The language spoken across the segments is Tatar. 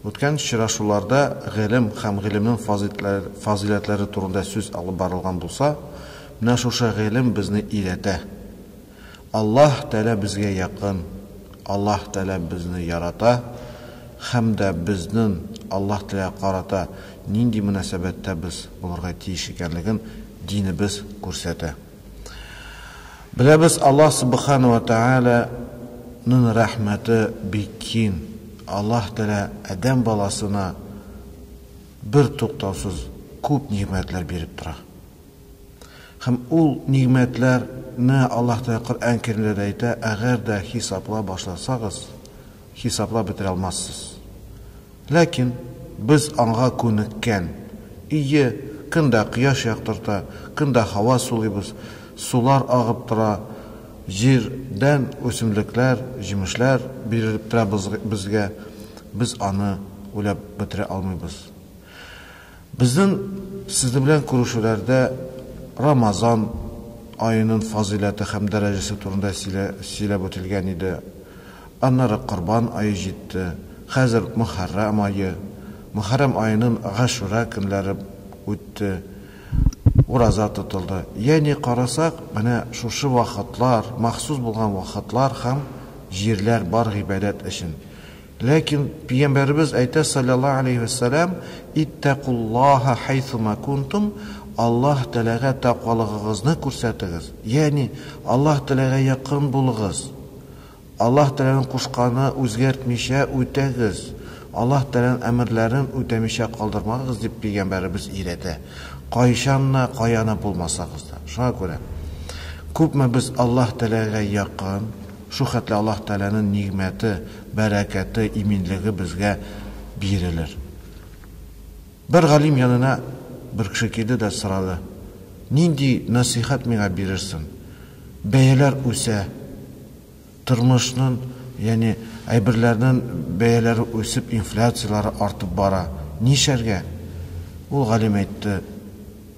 Үткән очрашуларда гыйлем һәм гыйлемнең фазыйләтләре турында сүз алып барылган булса, менә шушы гыйлем безне өйрәтә. Аллаһ Тәгалә безгә якын, Аллаһ Тәгалә безне ярата һәм дә безнен Аллаһ Тәгаләгә карата нинди мөнәсәбәттә без булырга тиеш икәнлеген динебез күрсәтә. Беләбез, Аллаһ Субхана вә Тәгалә ның рәхмәте бик кин. Аллаһ Тәгалә адәм баласына бер туктаусыз күп нигъмәтләр биреп тора. Һәм ул нигъмәтләр не Аллаһ Тәгалә Коръән Кәримдә дә әйтә, әгәр дә хисаплап башласагыз, хисаплап бетерә алмассыз. Ләкин без аңга күнеккән. Ие, көн дә кояш яктырта, көн дә һава сулыйбыз, сулар агып тора, җир дән үсемлекләр, җимешләр бирелеп тора безгә, без аны уйлап бетерә алмыйбыз. Безнең Сезнең белән күрешүләрдә Рамазан аенын фазыйләте һәм дәрәҗәсе турында сөйләп үтелгән иде. Аннары Корбан ае җитте, хәзер Мөхәррәм ае. Мөхәррәм аенын Гашүра көннәре үтте, ураза тотылды. Ягъни карасак, менә шушы вакытлар, махсус булган вакытлар һәм җирләр бар гыйбадәт өчен. Ләкин Пиямбәребез әйтә, салләллаһу галәйһи вә сәлам, Иттәкуллаһа хәйсума кунтум, Аллаһ Тәгаләгә тәкъвалыгыгызны күрсәтегез, ягъни, Аллаһ Тәгаләгә якын булыгыз, Аллаһ Тәгаләнең кушканы үзгәртмичә үтәгез, Аллаһ Тәгаләнең әмерләрен үтәмичә калдырмагыз, дип Пиямбәребез өйрәтә, кайчан да, каяны булмасагыз да. Шуңа күрә, күпме без Аллаһ Тәгаләгә якын. Шул хәтле Аллаһ Тәгаләнең нигъмәте, бәрәкәте, иминлеге безгә бирелер. Бер галим янына бер кеше килде дә сорады, Нинди нәсыйхәт миңа бирерсең? Бәяләр үсә, тормышның, ягъни әйберләрнең бәяләре үсеп, инфляцияләре артып бара. Нишләргә? Ул галим әйтте,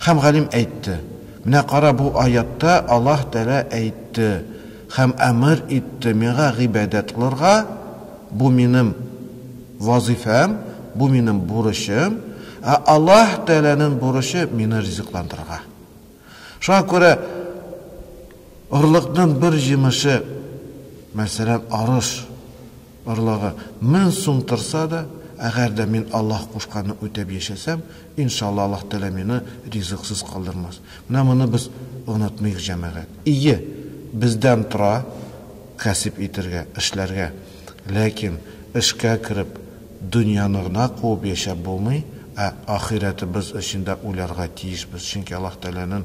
Һәм галим әйтте, Менә кара, бу аятта Аллаһ Тәгалә әйтте һәм әмер итте миңа гыйбадәт кылырга, бу минем вазыйфәм, бу минем бурычым, ә Аллаһ Тәгаләнең бурычы мине ризыкландырырга. Шуңа күрә орлыкның бер җимеше, мәсәлән, арыш, Орлыгы мең сум торса да, әгәр дә мин Аллаһ кушканны үтәп яшәсәм, иншалла Аллаһ Тәгалә мине ризыксыз калдырмас. Менә моны без онытмыйк, җәмәгать. Ие, бездән тора кәсеп итергә, эшләргә. Ләкин эшкә кереп, дөньяны гына куып яшәп булмый, ә ахирәтебез өчен дә уйларга тиешбез, чөнки Аллаһ Тәгаләнен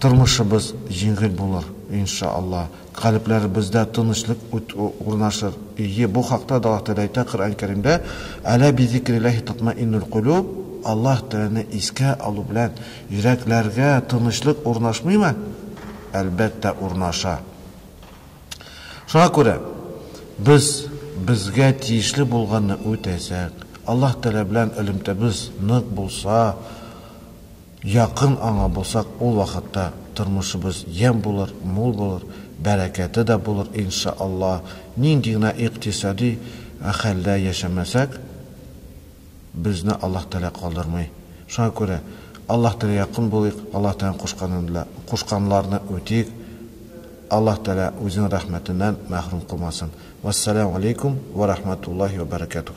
Тормышыбыз җиңел булыр, инша Алла. Калебләребездә тынычлык урнашыр. Ие, бу хакта да Аллаһ Тәгалә әйтә Коръән Кәримдә, Әлә бизикрилләһи татмаиннул кулүб, Аллаһ Тәгаләне искә алу белән йөрәкләргә тынычлык урнашмыймы? Әлбәттә, урнаша. Шуңа күрә, без безгә тиешле булганны үтәсәк, Аллаһ Тәгалә белән элемтәбез нык булса, Якын аңа булсак, ул вакытта тормышыбыз ямь булыр, мул булыр, бәрәкәте дә булыр, ин ша Аллаһ. Нинди генә икътисади хәлдә яшәмәсәк, безне Аллаһ Тәгалә калдырмый. Шуңа күрә, Аллаһ Тәгаләгә якын булыйк, Аллаһ Тәгаләнең кушканын да, кушканларны үтик, Аллаһ Тәгалә үзенең рәхмәтеннән мәхрүм кылмасын. Вәссәләмү галәйкүм вә рәхмәтуллаһи вә бәрәкәтүһ.